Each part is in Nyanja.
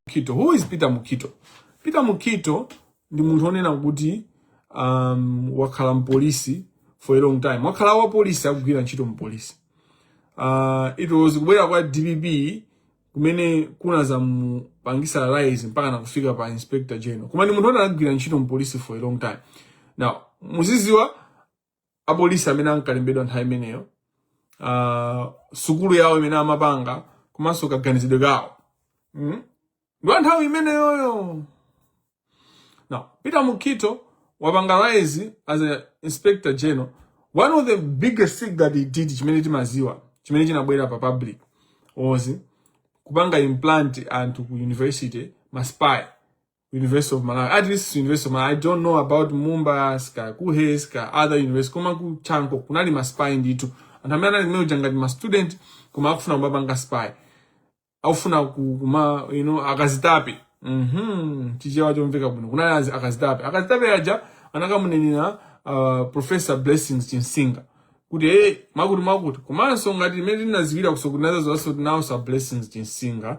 Mukhito. Who is Peter Mukhito? Peter Mukhito ndi munthu onena kuti um, wakhala mpolisi for a long time. Wakhala wa polisi akugwira ntchito mpolisi. Uh, it was kubwera kwa DPP kumene kunazamupangisa rise mpakana kufika pa inspector general. Koma ndi munthu onena akugwira ntchito mpolisi for a long time. Now, muziziwa apolisi amene ankalembedwa nthawi imeneyo uh, sukulu yawo imene amapanga komanso kaganizidwe kawo mm? ndi wa nthawi imeneyoyo now peter Mukhito wapanga rise as a inspector general one of the biggest thing that he did chimene timaziwa chimene chinabwera pa public was kupanga implant anthu ku university maspy University of Malawi, at least University of Malawi. I don't know about MUBAS, KUHeS, other universities. Koma ku chanko, kunali ma spy nditu. Anthu amene anali kumeneko ngati ma student, koma akufuna kumapanga spy. Akufuna ku- kuma, you know, akazitape. Mhm, chichewa chomveka bwino. Kunali azi- akazitape. Akazitape aja, anakamunenera uh, Professor Blessings Chinsinga. kuti hey, amati chakuti chakuti komanso ngati imene inazayambira kusokoneza zonse kuti nawo sa blessings chinsinga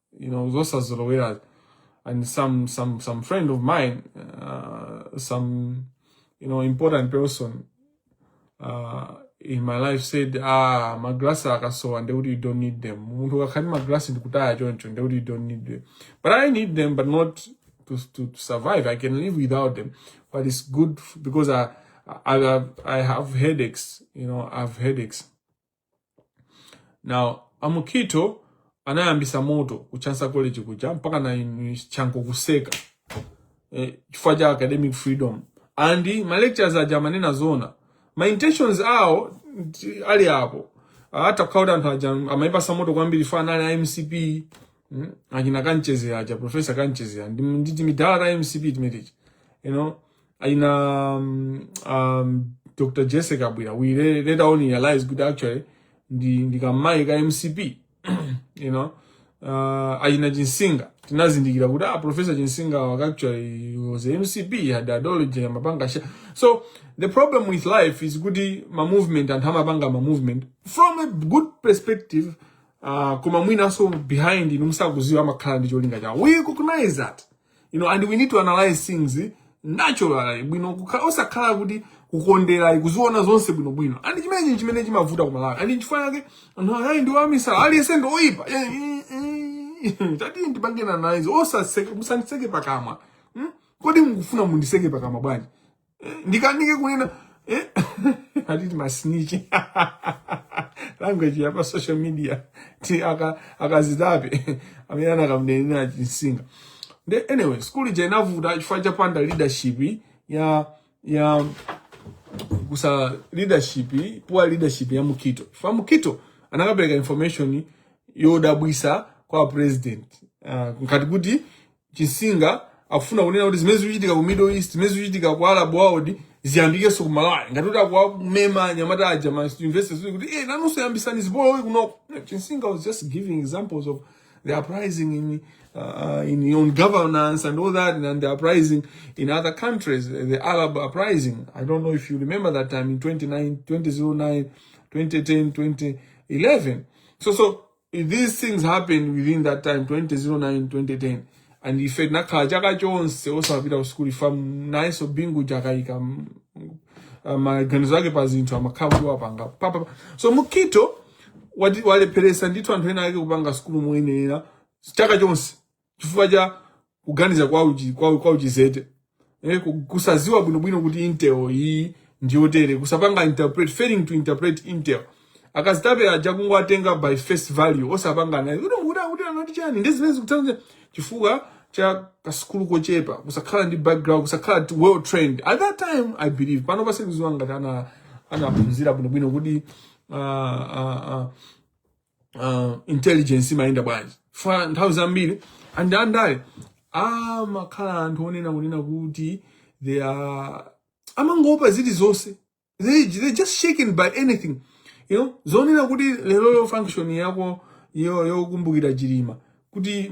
you know zosazolowera and some some some friend of mine uh, some you know important person uh, in my life said ah magrasi akasowa ndekuti you don't need them munthu ukakhati magrasi ndikutaya choncho ndekuti you don't need them but i need them but not to, to, to survive i can live without them but it's good because i i, I have headaches you know i have headaches Now, a Mukhito anayambisa moto ku Chancellor College kuja mpakana chanko kuseka eh, chifukwa cha academic freedom and ma lecturers aja amanena zona ma intentions awo alipo atha kukhala kuti anthu aja amaipasa moto kwambiri chifukwa anali a MCP mm, achina Kamchedzera aja professor Kamchedzera ndi timadala ta MCP timeneti you know Achina um, um, Dr. Jessie Kabwila, we later on realized good actually, ndi, ndi kamayi ka MCP, you know, uh, achina Chinsinga, tinazindikira kuti ah, Professor Chinsinga waka actually was a MCP, had ideology ya mapanga sha. So, the problem with life is kuti ma movement anthu amapanga ma movement from a good perspective, uh, koma mwinanso behind, inu musakuziwa amakhala ndi cholinga chawo. We recognize that. you know and we need to analyze things naturally bwino kukha- osakhala kuti kukondera kuziona zonse bwino bwino and chimenechi chimene chimavuta ku malawi and chifukwa chake anthu ayi ndi amisala aliyense ndi woipa Eh, eh, eh. tatiyeni tipangane analyze osa- musandiseke pakamwa Hmm? kodi mukufuna mundiseke pakamwa bwanji eh, ndikanike kunena eh? akuti masnitch language ya pa social media ti akazitape amene anakamnenera chinsinga nde anyway school ija inavuta chifukwa chopanda leadership ya ya kusowa leadership poor leadership ya Mukhito chifukwa Mukhito anakapereka information yodabwisa kwa president uh, ah, ngati kuti Chinsinga akufuna kunena kuti zimene zikuchitika ku Middle East, zimene zikuchitika ku Arab world ziyambikenso ku Malawi. Ngati kuti akuwamema anyamata aja ma university zili kuti eh nanunso yambisani zipolowe kunoko. No, Chinsinga was just giving examples of the uprising in uh, in on governance and all that and the uprising in other countries, the Arab uprising. I don't know if you remember that time in 29, 2009, 2010, 2011. So so these things happened within that time 2009 2010 and ife tinakhala chaka chonse osapita ku sukulu ifa nayenso bingu chakayika mm, uh, maganizo ake pa zinthu amakhala kuti wapanga pa- pa- pa. so Mukhito wati- walepheresa ndithu anthu ena ake kupanga sukulu moyenera chaka chonse chifukwa cha kuganiza kwa uchi, kwa, kwa uchizete eh, ku- kusaziwa bwinobwino kuti intel iyi ndiyotere kusapanga interpret failing to interpret intel akazitape aja kungowatenga by face value osapanga naye kuti kuti kuti anati chani ndi zimene zikutsanza chifukwa cha kasukulu kochepa kusakhala ndi background kusakhala ti- well trained at that time i believe pano sindikuziwa ngati ana anaphunzira bwinobwino kuti uh, uh, uh, uh, intelligence imayenda bwanji fa nthawi zambiri andi andale amakhala anthu onena kunena kuti they are amangopa zili zonse they, they just shaken by anything you know zonena kuti lero yo function yako yo yokumbukira chilima kuti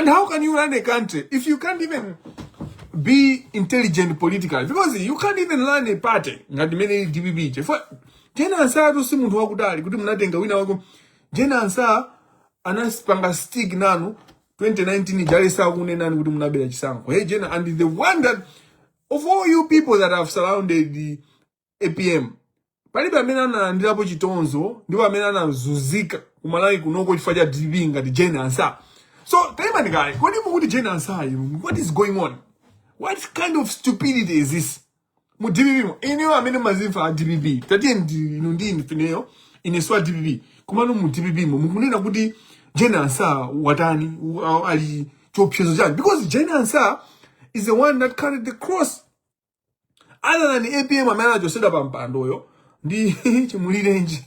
And how can you run a country if you can't even be intelligent politically? Because you can't even run a party ngati mene DPP. Chifukwa Jane Ansah to si munthu wakudali kuti munatenga wina wako. Jane Ansah anasipanga stick nanu 2019 jali sakunenani kuti munabera chisankho. Hey Jane and the one that of all you people that have surrounded the apm palibe amene analandirapo chitonzo ndipo amene anazunzika kumalawi kunoko chifukwa cha dpp ngati jane ansa so taimani kaye kodi mukuti jane ansa inu what is going on what kind of stupidity is this mu dpp mo ineyo amene mazimva a dpp tatiye ndi- inu ndi inu fa ineyo ineso a dpp komano mu dpp mo mukunena kuti jane ansa watani u- a- ali chiopsezo chani because jane ansa is the one that carried the cross other than apm amene anachosedwa pa mpandoyo ndi chimulirenji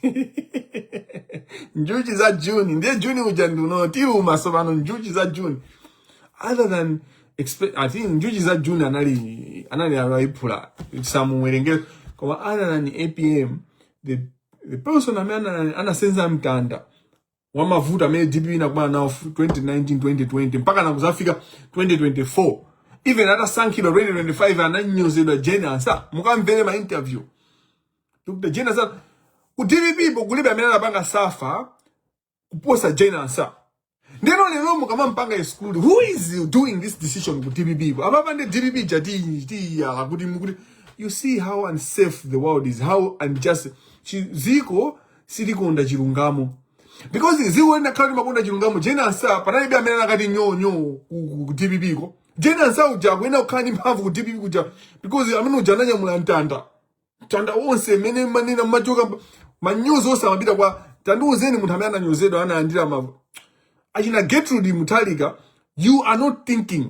njuchi za juni ndiye juni uja ndiuno tiluma sopano njuchi za juni other than expe- i think njuchi za juni anali anali Alayiphula samuwerengera koma other than apm the, the person amene ana- anasenza mtanda wa mavuto amene dpp inakumana nawo 2019 2020 mpaka nakuzafika 2024 even atasankhidwa 2025 ananyozedwa jeni ansa mukamvere ma interview dr jeni ansa ku dpp po kulibe amene anapanga safa kuposa jeni ansa ndeno lero mukamampanga exclude who is doing this decision ku dpp po apapa ndi dpp taziyala kuti mukuti you see how unsafe the world is how unjust Chi- ziko silikonda chilungamo because ziko linakhala limakonda chilungamo jane ansah panalibe amene anakati nyo nyo ku- ku ku dpp ko jane ansah uja akuyenera kukhala ndi mphamvu ku dpp kuja because amene uja ananyamula mtanda mtanda wonse mene manena machoka manyozo onse amapita kwa tandiuzeni munthu amene ananyozedwa analandira ma achina gertrude mutharika you are not thinking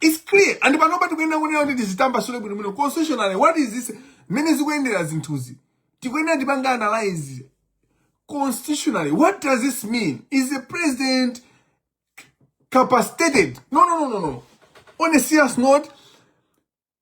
It's clear. And panopa tikuyenera kunena kuti tizitambasule bwino bwino. Constitutionally, what is this? Mmene zikuyendera zinthuzi. Tikuyenera tipange analyze constitutionally. What does this mean? Is the president capacitated? No, no, no, no, no. On a serious note,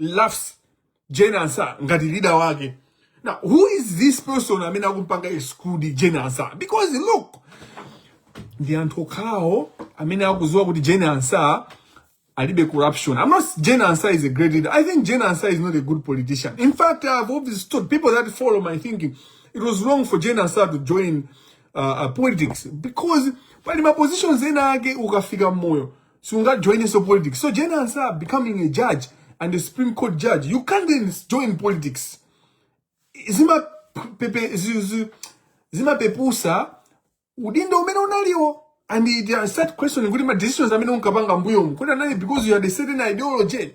laughs Jane Ansah ngati leader wake. Now, who is this person amene akumpanga exclude Jane Ansah? Because look, ndi anthu okhawo amene akuziwa kuti Jane Ansah alibe corruption. I'm not Jane Ansah is a great leader. I think Jane Ansah is not a good politician. In fact, I've always told people that follow my thinking, it was wrong for Jane Ansah to join uh, uh, politics because pali ma positions ena ake ukafika mmoyo sungajoinenso politics so jane ansah becoming a judge and a supreme court judge you can't then join politics zimapepe- zi- zi- zimapepusa udindo umene unaliwo and it uh, start questioning kuti ma decisions amene unkapanga mbuyomu kuti anali because you had a certain ideology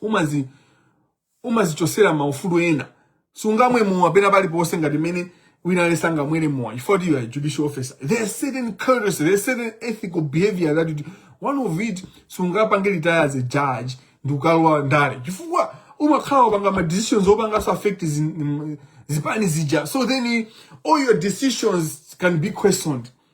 umazi umazichosera maufulu ena sungamwe mowa pena paliponse ngati mene wina aliyense angamwere mowa chifukwa you are a judicial officer there's certain courtesy there's certain ethical behavior that you do. one of it sungapange retire as a judge ndikukalowa ndale chifukwa umakhala wapanga ma decisions opanganso affect zi- mm, zipani zija so then eh, all your decisions can be questioned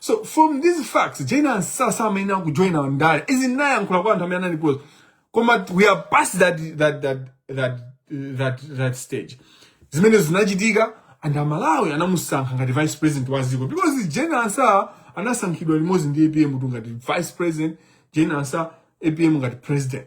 so from these facts jane ansah samayenera kujoina ndale izi ndinayankhula kwa anthu amene anali close koma we are past that, that, that, that, that, that stage zimene zinachitika and amalawi anamusankha ngati vice president wa dziko because jane ansah anasankhidwa limodzi ndi apm kuti ngati vice president jane ansah apm ngati president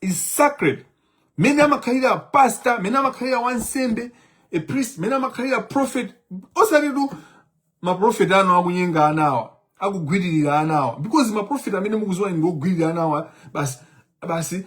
is sacred mene amakhalira pastor mene amakhalira wansembe a priest mene amakhalira prophet osatitu maprofeti anu akunyenga anawa akugwiririra anawa because maprofeti amene mukuziwa ndi ogwiririra anawa basi basi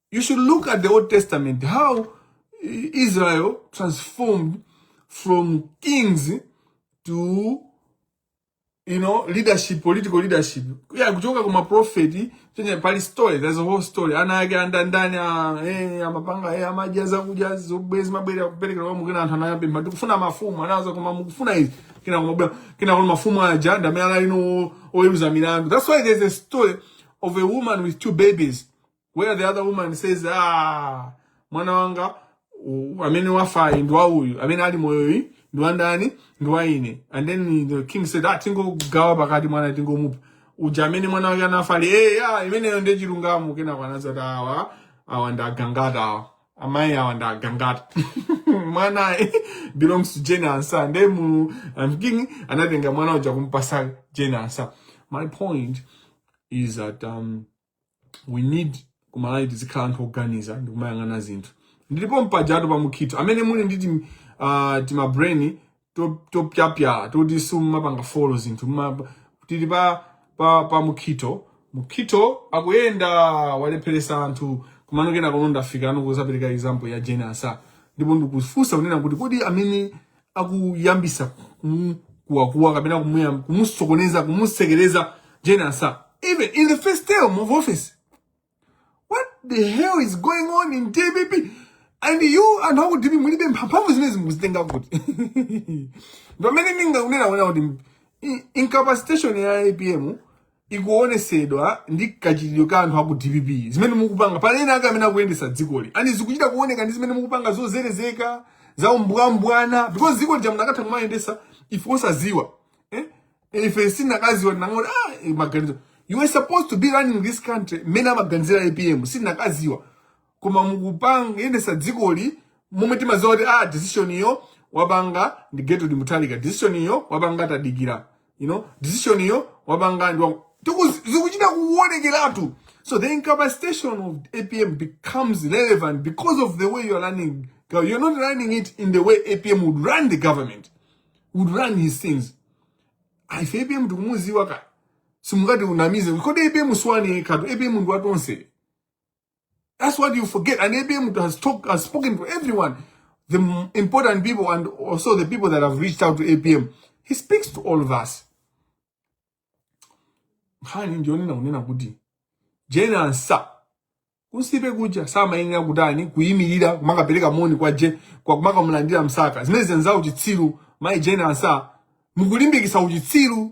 You should look at the Old Testament, how Israel transformed from kings to you know leadership political leadership yeah kuchoka kuma prophet chenye pali story there's a whole story ana ake anda ndani a eh amapanga eh amajaza kuja zobwezi mabere akupeleka kwa mukina anthu anayamba mba tikufuna mafumu anaanza koma mukufuna izi kina koma bwa kina koma mafumu aja ndi amene anali oweruza milandu that's why there's a story of a woman with two babies where the other woman says ah mwana wanga u- amene wafayu ndi wa uyu amene ali moyoyu ndi wandani ndi wa ine and then the king said ah tingogawa pakati mwana tingomupha uja amene mwana wake anafa ali hey, ah, imeneyo ndi chilungamo kenako anazati awa awa ndi agangata awa amayi awa ndi agangata mwana belongs to jane ansah nde mu um, king anatenga mwana uja kumpasa jane ansah my point is that um, we need kumalawi tizikhala anthu oganiza ndi kumayang'ana zinthu ndilipo mpajatu pa Mukhitho amene muli ndi timabrain topyapyala toti simumapanga follow zinthu mma- tili pa, pa, pa mukhitho mukhitho akuyenda walepheresa anthu kumanokena kuno ndafika ano kuzapereka example ya Jane Ansah ndipo ndikufunsa kunena kuti kodi amene akuyambisa kuwakuwa kapena kumusokoneza kumusekereza Jane Ansah even in the first term of office what the hell is going on in DPP and you anthu aku DPP mphamvu zimezi mukuzitenga kuti pamene ndikunena kuti incapacitation ya APM ikuonesedwa ndi kachitidwe ka anthu aku dpp zimene mukupanga pali ena ake amene akuyendesa dzikoli and zikuchita kuoneka ndi zimene mukupanga zozerezeka za umbwambwana because dzikoli lija munakatha kumayendesa ife osaziwa eh? ife sitinakaziwa tinangoti ah, eh, maganizo you were supposed to be running this country mmene amaganizira apm sitinakaziwa koma mukupanga yendesa dzikoli momwe timaziwa kuti ah decision iyo wapanga ndi Getrude Mutharika decision iyo wapanga tadikira you know decision iyo wapanga ndi zikuchita kuonekeratu so the incapacitation of apm becomes relevant because of the way you are running you're not running it in the way apm would run the government would run his things ife apm tikumuziwa ka simungatinamize kuti apm si wanu katu apm ndi watonse That's what you forget. And APM has, talk, has spoken to everyone, the m- important people and also the people that have reached out to APM. He speaks to all of us. Nkhani ndiyonena kunena kuti Jane Ansah kusipe kuja samayenera kutani kuyimirira kumakapereka moni kwa je kwa kumakamulandira msaka zimenezo ndi za uchitsiru mayi Jane Ansah mukulimbikitsa uchitsiru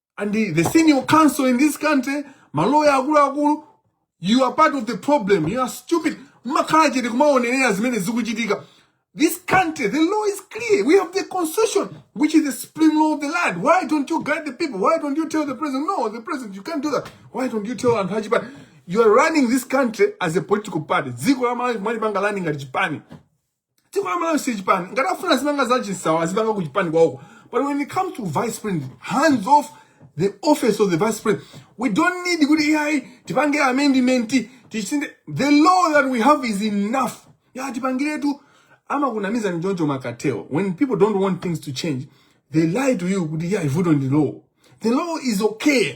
and the, the senior counsel in this country maloya akuluakulu you are part of the problem you are stupid mmakhala chete kumaonerera zimene zikuchitika this country the law is clear we have the constitution which is the supreme law of the land why don't you guide the people why don't you tell the president no the president you can't do that why don't you tell anthu achipani you are running this country as a political party dziko la malawi mwalipanga lani ngati chipani dziko la malawi si chipani ngati afuna azipanga za chinsawa azipanga ku chipani kwawoko but when it comes to vice president hands off the office of the vice president we don't need kuti ai tipange amendment tisinthe the law that we have is enough ya tipangiretu amakunamiza ndi choncho mmakateyo when people don't want things to change they lie to you kuti ya vuto ndi law the law is okay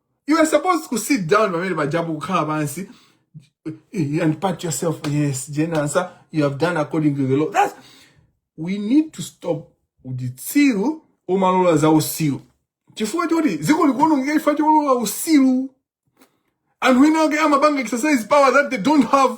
You are supposed to sit down pamene pajapo kukhala pansi eh, and pat yourself. Yes, Jane Ansah, you have done according to the law. That's we need to stop uchitsiru omalola za usiru chifukwa choti dziko likuonongeka chifukwa cholola usiru anthu ena ake amapanga exercise power that they don't have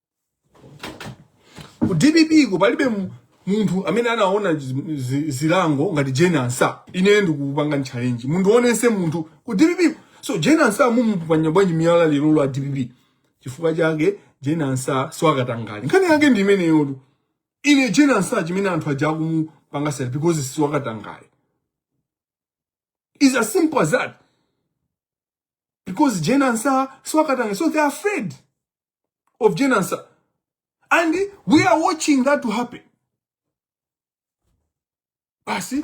ku dpp ko palibe mu- munthu amene anaona zi- zi- zilango ngati jane ansah ine ndikupangani challenge munthu wina aliyense munthu ku dpp so jane ansah mukumuponya bwanji miyala lerolo a dpp chifukwa chake jane ansah si wakatangale nkhani yake ndi imeneyotu ine jane ansah chimene anthu aja akumupanga sell because si wakatangale it's as simple as that because jane ansah si wakatangale so they are afraid of Jane Ansah. And we are watching that to happen. Basi,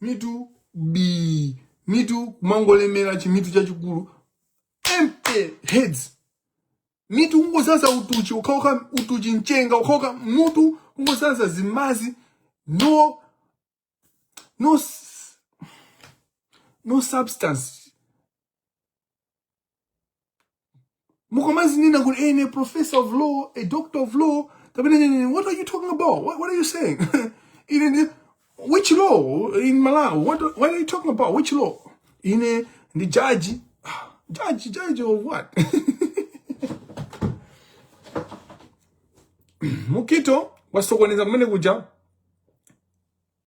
mitu bi, mitu kumangolemera chimutu chachikulu, empty heads. Mitu kungodzaza utuchi, ukachoka utuchi mchenga, ukachoka mutu kungodzaza zimadzi, no no no substance mukomazinena kuti ene professor of law a doctor of law kapena nene what are you talking about what, what are you saying ine ndi which law in malawi what, what are you talking about which law ine ndi judge Ah, judge judge of what mukito wasokoneza kumene kuja